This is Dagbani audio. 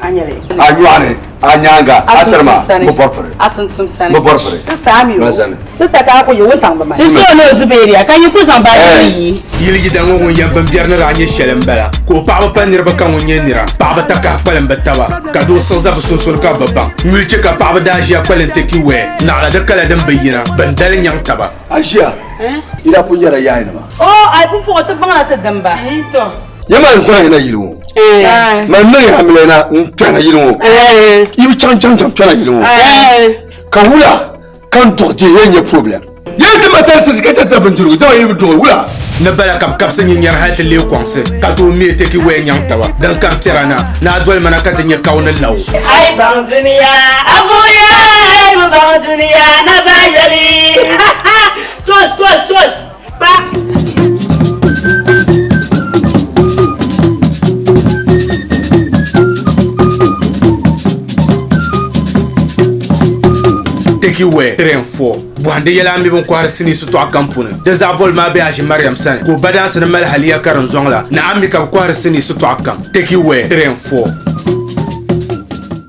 a nyɔɣani a nyaanga a tiri ma bi bɔri firi a tuntum sani bi bɔri firi sista ami o sani sista ka a ko yɛ wuntaŋ bi ma sista o ni o zubeeriya ka yi ku zaŋ baaji ni yi yili yida ŋɔ ŋun yɛn bimbɛri ni daa nyɛ shɛli n bala ka o paɣaba pa niriba ka ŋun nyɛ nira paɣaba ta kahi kpalim bi taba ka doo siɣi za bi sunsuuni ka bi baŋ nyuli chɛ ka paɣaba daa ʒiya kpalim ti ki wɛɛ naɣila di kala din bi yina bin dali nyaŋ taba a ʒiya yida ku nyɛla yaayinima o a yi pun puɣi ti baŋla ti dimba ya maa n-zaŋ ya na yili ŋɔ man niŋ ya hamilɛ na n-kpɛna yili ŋɔ i bi chaŋ chaŋ chaŋ kpɛna yili ŋɔ ka wula ka n duɣi dihi ya nyɛ problem yɛn ti ma tali sirisi ka tɛta bindirigu dama yi bi duɣi wula ni bala ka bɛ kabisi nyinyɛri hali ti leei kɔŋsi ka tooi me takeaway nyaŋ taba din kari piɛra na ni a doli ma na ka ti nya ka o ni la o. A yi baŋ duniya a buɣiya a yi bi baŋ duniya na ba yoli. Toos toos toos. Teki wɛ tren fɔ bɔhindi yɛla n mi bin kɔhiri sinii sitɔɣu kam puni di zaa boli maa bɛ aʒi mariam sani ka o ba daansi ni mali haliya ka din zɔŋ la ni a mi ka bi kɔhiri sinii sitɔɣu kam teki wɛ tren fɔ